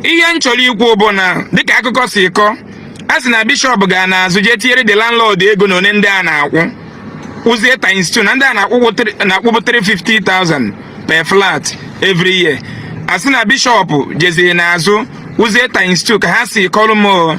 ihe m chọrọ ikwu bụ na dịka akụkọ si kọọ a sị na bishọp ga n'azụ jee tinyere the landlord ego na one ndị a na-akwụ kwụzie times two na ndị a na-akwụbụ 350,000 per flat every year a sị na bishọp jeziri n'azụ kwụzie times two ka ha si kọrọ m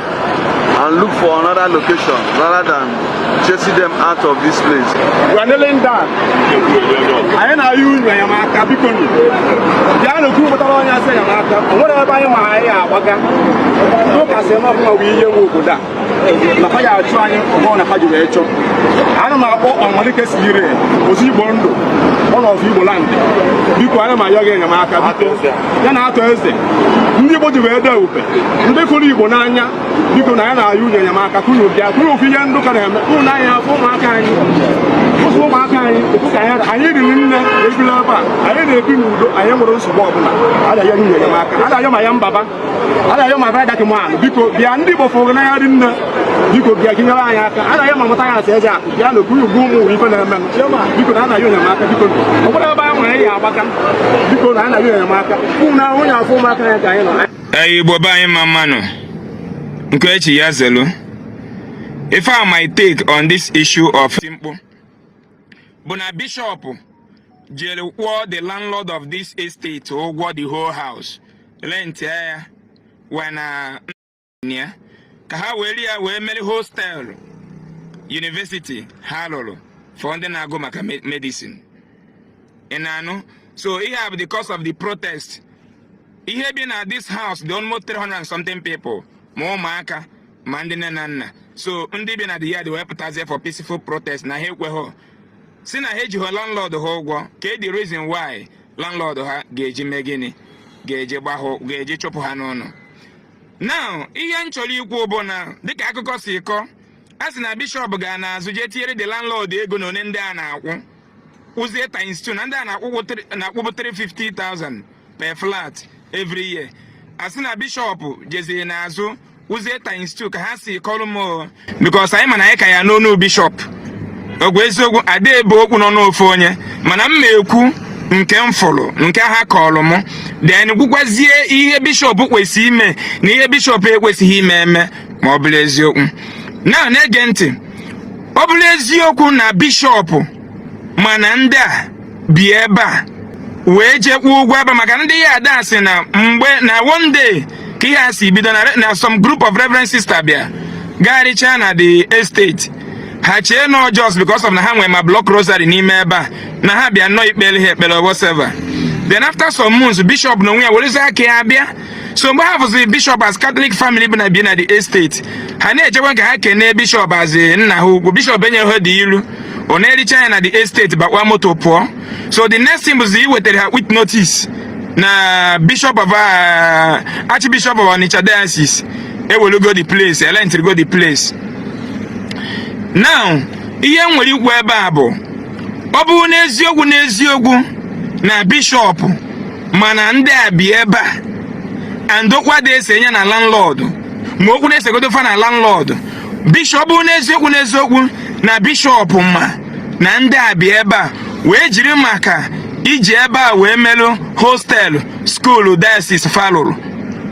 and look for another location rather than chasing them out of this place. We are kneeling down. Anyị na-ayọ unu enyemaka biko nu. Bịanụ ka unu gbatara anyị ọsọ enyemaka. O nwerọ ebe anyị ma anyị ya-agbaga. Ndị ụka sị na ọbụla bụ ihe nwe obodo a. Na ha ya-achụ anyị ọbụla na ha ji wee chọọ. Ana m akpọ ọmalike si ire Ọzọ Igbo Ndụ. One of Igbo land. Biko anyị na-ayọ gị enyemaka biko. ya na Arthur Eze ndị Igbo ji wee dee ube ndị fụrụ Igbo n'anya biko na anyị na-ayọ ụnụ enyemaka ka ụnụ bịa ka ụnụ fụ ihe ndị ụka na-eme ụnụ n'anya afọ ụmụaka anyị ụfụ ụmụaka anyị ụfụ ka anyị riri nne ebila ebe a anyị na-ebi n'udo anyị enwerọ nsogbu ọbụla a na-ayọ ụnụ enyemaka a na-ayọ ma ya mbaba a na-ayọ ma bada kemahụ biko bịa ndị Igbo fụrụ n'anya dị nne biko bịanụ nyere anyị aka a na-ayọ ma mụta ya asị eze akụ ya na okpuru ugwu ụmụ ife na-eme biko na a na-ayọ gị enyemaka biko ọ bụrụ ebe a nwere ya-agbaga biko na a na-ayọ gị enyemaka ụmụ na onye afọ ụmụaka ya ka anyị nọ ee igbo be anyị mma mma nụ nke e chi ya zelu ife my take on this issue of Nkpor bụ na bishọp jere kwụọ the landlord of this estate ụgwọ the whole house rent ya wena na ya ka ha weeri ya wee mere hostel yunivesiti ha lụrụ for ndị na-agụ maka medicine ị na-anụ so ihe a bụ the cause of the protest ihe bi na this house dị almost 300 and something people ma ụmụaka ma ndị nne na nna so ndị bi na the yard wee pụtazie for peaceful protest na ha ekweghị sị na ha ejighị landlord ha ụgwọ kee the reason why landlord ha ga-eji mee gịnị ga-eji gbahụ ga-eji chụpụ ha n'ụlọ now ihe m chọrọ ikwu bụ na dịka akụkọ si kọọ a sị na bishọp ga n'azụ jee tinyere the landlord ego na one ndị a na-akwụ kwụzie times two na ndị a na-akwụbụ 350,000 per flat every year a sị na bishọp jeziri n'azụ kwụzie times two ka ha si kọrọ m because anyị ma na anyị ka ya-anụ ọnụ bishọp ọ bụ eziokwu a da-ebe okwu n'ọnụ ofu onye mana m na-ekwu nke m fụrụ nke ha kọrọ m then kwukwazie ihe bishọp kwesịrị ime na ihe bishọp ekwesịghị ime eme ma ọ bụrụ eziokwu na na-ege ntị ọ bụrụ eziokwu na bishọp ma na ndị a bi ebe a wee jee kwụọ ụgwọ ebe maka ndị yard a sị na mgbe na one day ka ihe a si bido na some group of reverend sister bịa gagharịchaa na the estate ha chee na just because of na ha nwee ma block rosary n'ime ebe a na ha bịa nnọọ ikpere ha ekpere whatever then after some months bishop na onwe ya werezi aka ya bịa so mgbe ha fụziri bishop as Catholic family bi na the estate ha na-ejekwa ka ha kenee bishop as nna ha ukwu bishop enyeghị ha dị iru ọ na-ericha ya na the estate bakwa moto pụọ so the next thing bụzi iwetara ha quit notice na bishop of uh, archbishop of Onitsha diocese ewelugo the place elentirigo the place now ihe m nwere ikwu ebe a bụ ọ bụrụ n'eziokwu n'eziokwu na bishop ma na ndị a bi ebe a and okwu adị ese nye na landlord ma okwu na-esegodo fa na landlord bishop ọ bụ n'eziokwu n'eziokwu na bishop ma na ndị a bi ebe a wee jiri maka iji ebe a wee melụ hostel school diocese fa lụrụ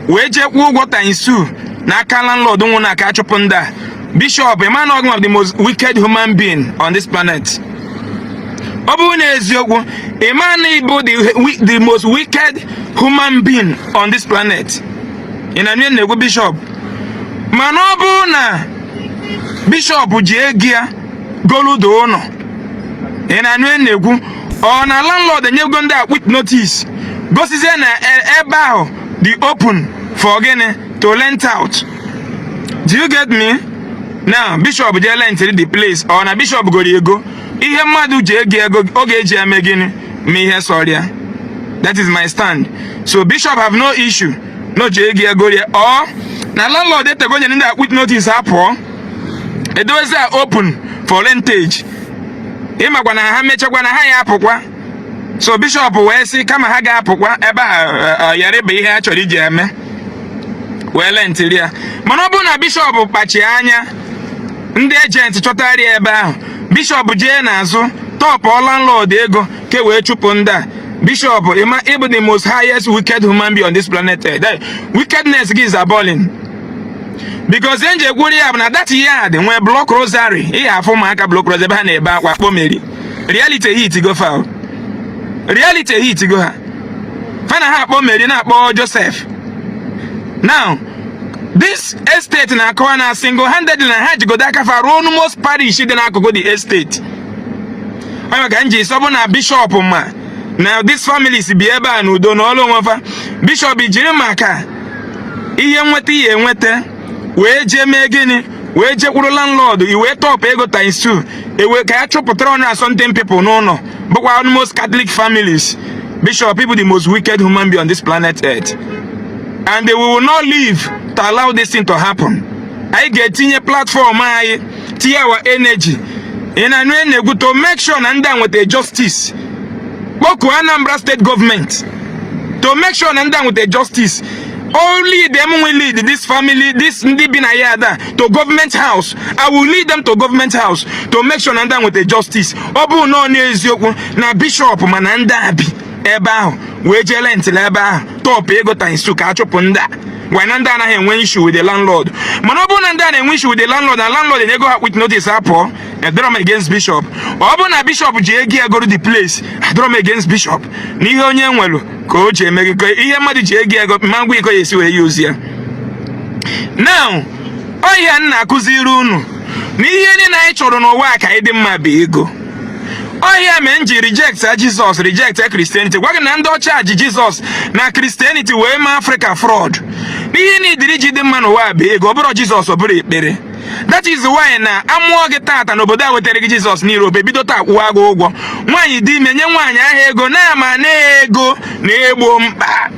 wee jee kwụọ ụgwọ times two n'aka landlord nwụ na ka a chụpụ ndị a Bishop, ị ma na ị bụ the most wicked human being on this planet. ọ bụrụ n'eziokwu ị ma na ị bụ the most wicked human being on this planet ị na-anụ ihe m na-ekwu bishop mana ọ bụrụ na bishop ji ego ya goludo ụlọ ị na-anụ ihe m na-ekwu or na landlord enyego ndị a quit notice gosizie na e, ebe ahụ dị open for gịnị to rent out do you get me now bishop jee lentịrị the place or na bishop goro ego ihe mmadụ ji ego ego ọ ga-eji eme gịnị mee ihe sọrọ ya that is my stand so bishop have no issue na o ji ego egori ya or na landlord etego nye ndị a quit notice ha pụọ e dozie ya open for rentage ị makwa na ha mechakwa na ha ya-apụkwa so bishop wee sị kama ha ga-apụkwa ebe a eh, eh, yarịba ihe a chọrọ iji eme wee lentiri ya mana ọ bụrụ na bishop kpacha anya ndị agent chọtara ya ebe ahụ bishop jee n'azụ tọpụ landlord ego ka e wee chụpụ ndị a bishop ị ma ị bụ the most highest wicked human being on this planet earth wickedness gị is appalling because ihe m ji kwuru ya bụ na that yard nwee block rosary ị ya-afụ ụmụaka block rosary ebe ha na-ebe akwa kpọ Mary reality hitigo fa reality hitigo ha fa na-akpọ Mary na-akpọ Joseph now this estate na-akọwa na single handed na ha jigodo aka fa rụọ almost parish dị n'akụkụ the estate ọ ya ka m ji sị ọ bụ na bishop ma na this families bi ebe a n'udo nọlụ onwe fa bishop jiri maka ihe nweta ihe enweta wee jee mee gịnị wee jekwuru landlord i wee tọpụ ego times two i wee ka ya chụpụtara hundred and something people n'ụlọ bụkwa almost Catholic families Bishop ị bụ the most wicked human being on this planet earth and they will not live to allow this thing to happen anyị ga-etinye platform anyị tinye our energy ị na-anụ ihe m na-ekwu to make sure na ndị a nweta justice kpokuo Anambra state government to make sure na ndị a nweta justice i'll lead them will lead this family this ndị bi na yard a to government house i will lead them to government house to make sure na ndị a nweta justice ọ bụ na ọ bụ eziokwu na bishọp ma na ndị a bi ebe ahụ wee jee rentịrị ebe ahụ top ego times two ka a chụpụ ndị a while na ndị a anaghị enwe issue with the landlord mana ọ bụrụ na ndị a na-enwe issue with the landlord na landlord enyego ha quit notice ha pụọ adịrọ m against bishop ọ bụrụ na bishop ji ego egoro the place adịrọ m against bishop na ihe onye nwelu ka o ji eme ọjị ihe mmadụ ji ego ego ị ma-agwa ya ka ọ ya-esi wee use ya now ọ ihe a m na-akụziri unu na ihe niile anyị chọrọ n'ụwa a ka anyị dị mma bụ ego ọ ihe a mee m ji reject jizọs reject christianity gwa gị na ndị ọcha ji jizọs na christianity wee mee afrịka fraud n'ihe na idiri ji dị mma n'ụwa bụ ego ọ bụrọ jizọs ọ bụrọ ekpere that is why na a mụọ gị tata n'obodo a wetara gị jizọs na europe e bido taa kwụwa gị ụgwọ nwaanyị dị ime nye nwaanyị ahụ ego na a ma na ego na-egbo mkpa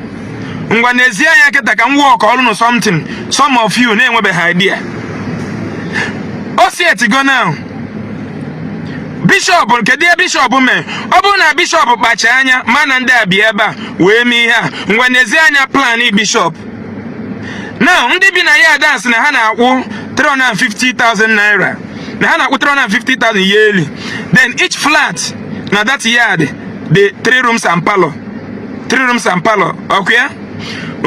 ngwa nezie anya kịta ka m workọrọ unu something some of you na-enwebeghị idea o si etigo now bishọp kedu ihe bishọp mee ọ bụrụ na bishọp kpacha anya ma na ndị a bi ebe a wee mee ihe a ngwa nezie anya plan bishọp now ndị bi na yard a a sị na ha na-akwụ 350,000 naira na ha na-akwụ 350,000 yearly then each flat na that yard dị 3 rooms and parlor 3 rooms and parlor ọkwa ya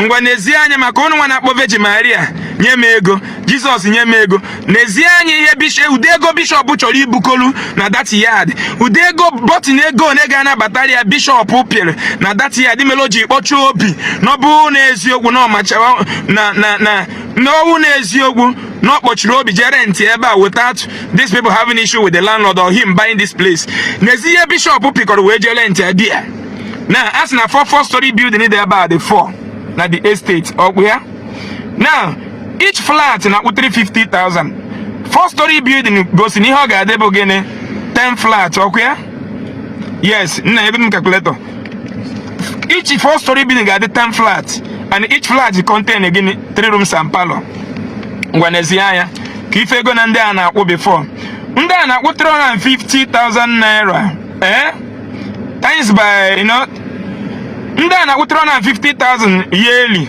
ngwa nezie anya maka ụnụ nwa na-akpọ virgin Maria nye m ego jizọs nye m ego nezie anya ihe bishop ụdị ego bishọp chọrọ ibukolu na that yard ụdị ego button ego nwa ga na-abatara ya bishọp pịrị na that yard mere o ji kpọchie obi na ọ bụ na eziokwu na ọ machara na na na na ọ wụ na eziokwu na ọ kpọchiri obi jee rentị ebe a without these people having issue with the landlord or him buying this place nezie ihe bishọp pịkọrọ wee jee rentị ebe ya now a sị na four four story building dị ebe a dị four na the estate ọkwa ya now each flat na-akwụ 350,000 four story building gosi na ihe ọ ga-adị bụ gịnị 10 flat ọkwa ya yes nna ebe m calculator each four story building ga-adị 10 flat and each flat contain gịnị 3 rooms and parlor ngwa nezie anya ka ị fụ ego na ndị a na-akwụ before ndị a na-akwụ 350,000 naira eh times by you know ndị a na-akwụ 350,000 yearly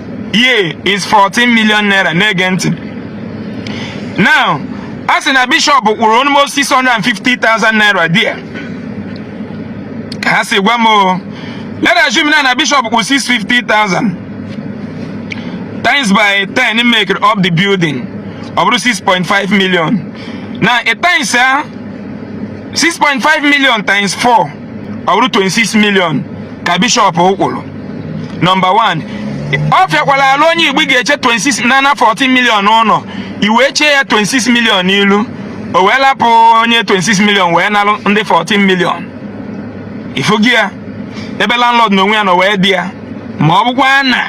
ye is 14 million naira na-ege ntị now a sị na bishọp kwụrụ almost 650,000 naira there ka ha si gwa m o let us assume na na bishọp kwụrụ 650,000 times by 10 make up the building ọ bụrụ 6.5 million now times ya 6.5 million times 4 ọ bụrụ 26 million ka bishọp kwụrụ nọmba 1 ọ fịakwara alụ onye igbo ga-eche 26 na na 14 million na i wee chee ya 26 million n'ilu o wee lapụ onye 26 million wee nalụ ndị 14 million ị fụgo ya ebe landlord n'onwe ya nọ wee dị ya ma ọ bụkwa na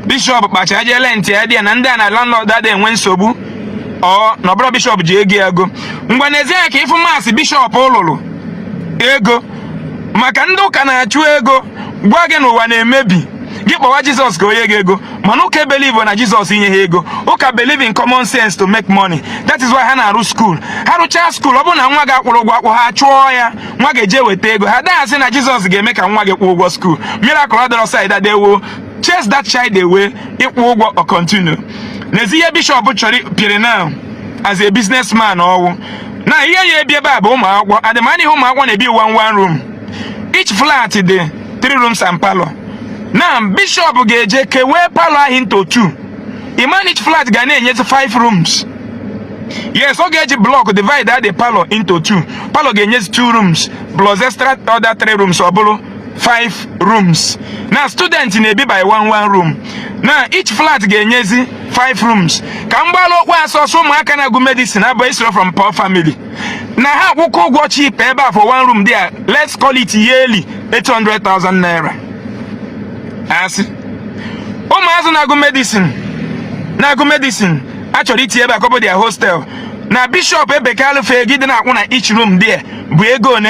bishọp kpacha jee rent ya dị ya na ndị a na landlord ada enwe nsogbu ọ na ọ bụrọ bishọp ji ego ya ego ngwa nezie ya ka ị fụ maths bishọp lụrụ ego maka ndị ụka na-achụ ego gwa gị n'ụwa na-emebi gị kpọwa jizọs ka o nye gị ego mana ụka believe na jizọs inye ha ego ụka believe in common sense to make money that is why ha na-arụ skuul ha rụchaa skuul ọ bụrụ na nwa gị akwụrọ ụgwọ akwụ ha chụọ ya nwa gị eje weta ego ha ada asị na jizọs ga-eme ka nwa gị kwụọ ụgwọ skuul miracle adịrọ side a they will chase that child away ị kwụọ ụgwọ ọ continue nezie ihe bishọp chọrọ pịrị now as a businessman ọ fụ na ihe ya-ebi ebe a bụ ụmụ akwụkwọ and ị ma na ihe ụmụ akwụkwọ na-ebi one one room each flat dị three rooms and palọ now bishọp ga-eje kewee palọ ahụ into two ị ma na each flat ga na-enyezi five rooms yes ọ ga-eji blọk divide the palọ into two palọ ga-enyezi two rooms plus extra other three rooms ọ bụrụ five rooms now student na-ebi by one one room now each flat ga-enyezi 5 rooms ka m gbara okwu a ọsọ ọsọ ụmụaka na-agụ medicine abụsịrọ from poor family na ha akwụkwa ụgwọ cheap ebe a for one room there let's call it yearly 800,000 naira a sị ụmụazụ na-agụ medicine a chọrọ itinye ebe a ka ọ bụ their hostel na bishop ebekalụ fegide na-akwụ na each room there bụ ego one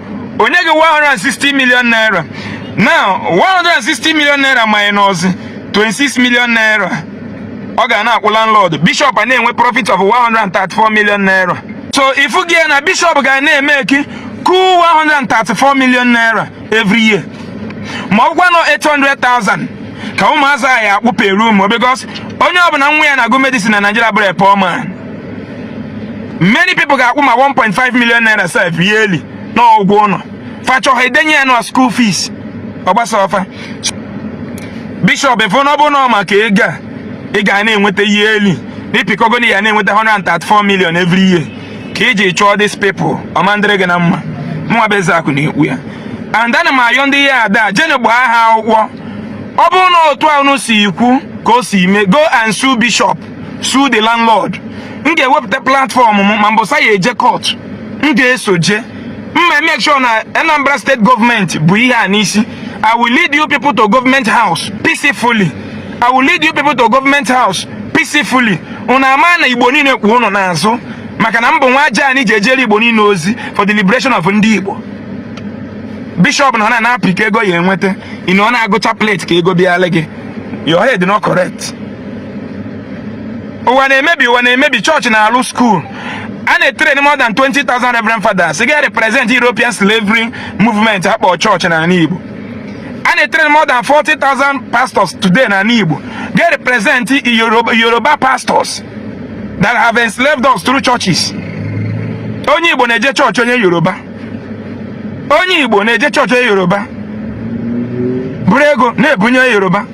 o nye gị 160 million naira now 160 million naira minus 26 million naira ọ ga na-akwụ landlord bishop a na-enwe profit of 134 million naira so ị fụgo ya na bishop ga na-emeki cool 134 million naira every year ma ọ bụkwanụ 800,000 ka ụmụazụ ya-akwụ per room because onye ọbụla nwa ya na-agụ medicine na Naịjirịa abụrọ a poor man many people ga-akwụ ma 1.5 million naira sef yearly na ụgwọ ụlọ fa chọọ ha edenye ya na school fees ọ gbasarọ fa bishọp ị fụ na ọ bụ na maka ego a ị ga na-enweta yearly ị pịkọgo na ya na-enweta 134 million every year ka i ji chụọ these people ọ ma-adịrị gị na mma mụnwa bụ Ezeaku na-ekwu ya and ana m ayọ ndị yard a jeenụ gbaa ha akwụkwọ ọ bụrụ na otu a unu si ekwu ka o si mee go and sue bishop sue the landlord m ga-ewepụta platform m ma mbọsị a ya-eje court m ga-eso je m make sure na Anambra state government bu ihe a n'isi I will lead you people to government house peacefully I will lead you people to government house peacefully unu ama na igbo niile kwụ unu n'azụ maka na m bụ nwa aja anyị ji ejere igbo niile ozi for the liberation of ndị igbo bishọp nọ na-apị ka ego ya enweta ị nọ na-agụcha plate ka ego bịala gị your head not correct ụwa na-emebi ụwa na-emebi chọọchị na-alụ skuul a na-etreni more than 20,000 reverend fathers ga represent European slavery movement a kpọ chọọchị n'ala Igbo a na-etreni more than 40,000 pastors today n'ala Igbo ga represent Yoruba pastors that have enslaved us through churches onye Igbo na-eje chọọchị onye Yoruba onye Igbo na-eje chọọchị onye Yoruba buru ego na-ebunye Yoruba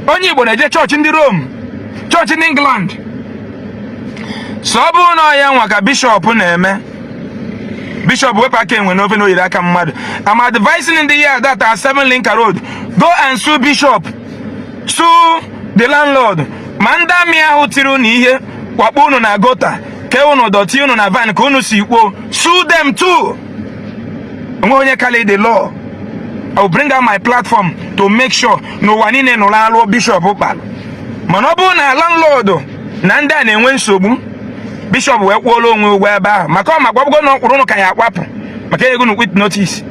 onye igbo na-eje chọọchị ndị rom chọọchị ndị england so ọ bụrụ na ọ ya nwa ka bishọp na-eme bishọp wepụ aka enwe n'ofe na o yiri aka mmadụ I'm advising ndị a that are seven Limca road go and sue bishop sue the landlord ma ndị army ahụ tiri unu ihe kwakpo unu na gutter kee unu dọtị unu na van ka unu si kwuo sue them too o nwe onye kalị the law I will bring out my platform to make sure na ụwa niile nụrụ alụ bishọp kpalụ mana ọ bụrụ na landlord na ndị a na-enwe nsogbu bishọp wee kwụọ landlord ụgwọ ebe ahụ maka ọ makwabụgo na ọkwụrụ ụnụ ka ya akwapụ maka ego na quit notice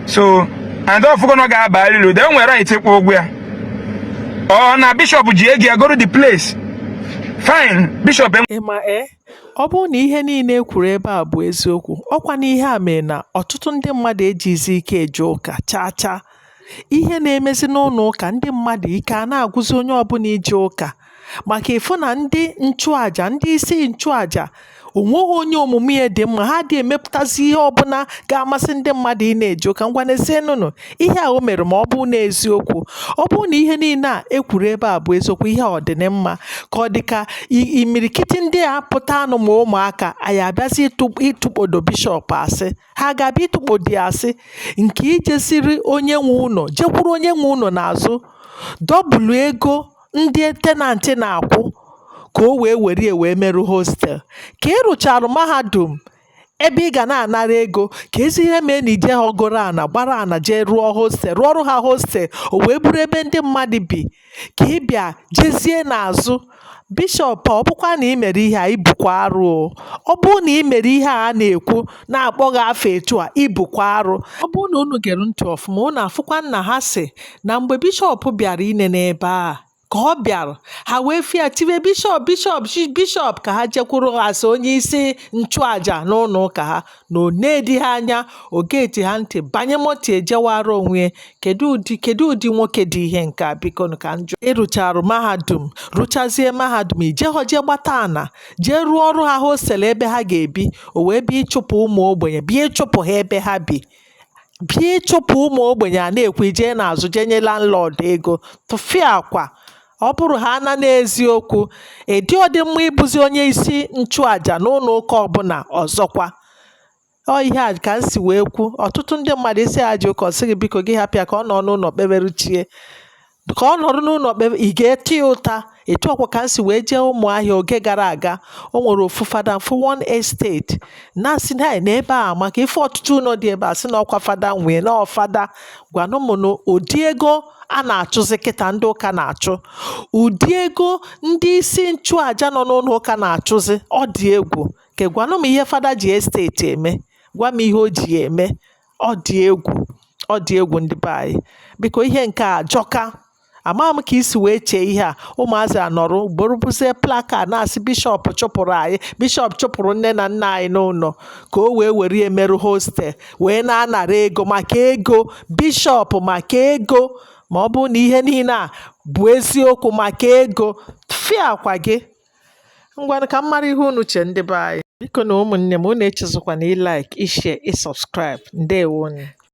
so and ọ fụgo na ọ ga-aba alịlu de nwere right ịkwụ ụgwọ ya ọ na bishọp ji ego ya goro the place fine bishọp ịma e Ọ bụrụ na ihe niile e kwuru ebe a bụ eziokwu, ọkwa na ihe a mere na ọtụtụ ndị mmadụ ejizi ike eje ụka chaa chaa. Ihe na-emezi n'ụlọ ụka ndị mmadụ ike a na-agwụzi onye ọbụla ije ụka maka ị fụ na ndị nchụaja ndị isi nchụaja onweghị onye omume ya dị mma ha adị emepụtazi ihe ọbụla ga-amasị ndị mmadụ ịna-eje ụka ngwa nezienụnụ ihe a o mere ma ọ bụ na eziokwu ọ bụ na ihe niile a ekwuru ebe a bụ eziokwu ihe ọ dị mma ka ọ dị ka imirikiti ndị a pụtanụ ma ụmụaka anyị abịazi ịtụkpodo bishọp asị ha ga-abịa ịtụkpodo ya asị nke i jeziri onye nwe ụlọ jekwuru onye nwe ụlọ n'azụ double ego ndị tenantị na-akwụ ka o wee were ya wee merụ hostel ka ị rụcharụ mahadum ebe ị ga na-anara ego keezi ihe mee na i jehọ goro ana gbara ana jee rụọ hostel rụọrụ ha hostel o wee bụrụ ebe ndị mmadụ bi ka ị bịa jezie n'azụ bishọp ọ bụkwa na ị mere ihe a ị bụkwa arụ o ọ bụrụ na ị mere ihe a na-ekwu na-akpọ gị afa etu a ị bụkwa arụ ọ bụrụ na unu gere ntị ọfụma unu afụkwa na ha sị na mgbe bishọp bịara inene ebe a ka ọ bịara ha wee fịa tiwe bishọp bishọp bishọp ka ha jekwuru a sị onye isi nchụaja n'ụlọ ụka ha na o nedị ha anya o gedị ha ntị banye moto jewara onwe ya kedu ụdị kedu ụdị nwoke dị ihe nke a biko ka m jụọ ị rụcharụ mahadum rụchazie mahadum i jehọ jee gbata ana jee rụọrụ ha hostel ebe ha ga-ebi o wee bịa ịchụpụ ụmụ ogbenye bịa ịchụpụ ha ebe ha bi bịa ịchụpụ ụmụ ogbenye a na-ekwu jee n'azụ jee nye landlord ego tụfịakwa ọ bụrụ ha na n'eziokwu ị dịhọdị mma ịbụzi onye isi nchụaja n'ụlọ ụka ọbụla ọzọkwa ọ ihe a ka m si wee kwu ọtụtụ ndị mmadụ ị sị ha jee ụka ọ sị gị biko gị hapụ ya ka ọ nọ n'ụlọ kpeberu chi ya ka ọ nọrọ n'ụlọ kpebe ị ga-ata ya ụta etu ọkwa ka m si wee jee Ụmụahịa oge gara aga o nwere ofu fada m fụ one estate na-asị na na ebe a amaka ife ọtụtụ ụlọ dị ebe a sị na ọkwa fada nwe ya na ọ fada gwanụ m na ụdị ego a na-achụzi kịta ndị ụka na-achụ ụdị ego ndị isi nchụaja nọ n'ụlọ ụka na-achụzi ọ dị egwu ke gwanụ m ihe fada ji esteti eme gwa m ihe o ji ya eme Ọ dị egwù, ọ dị egwù ndị be anyị. Biko ihe nke a ajọka. Ama m ka i si wee chee ihe a. Ụmụazị a nọrọ buru buzie placard na-asị Bishọp chụpụrụ anyị, Bishọp chụpụrụ nne na nna anyị n'ụlọ ka o wee were ya merụ hostel wee na-anara ego maka ego Bishọp maka ego ma ọ bụrụ na ihe niile a bụ eziokwu maka ego fịakwa gị. ngwanụ ka m mara ihe unu che ndị be anyị bikonụ ụmụnne m unu echezọkwana ịlike ịshare ịsubscribe ndewonụ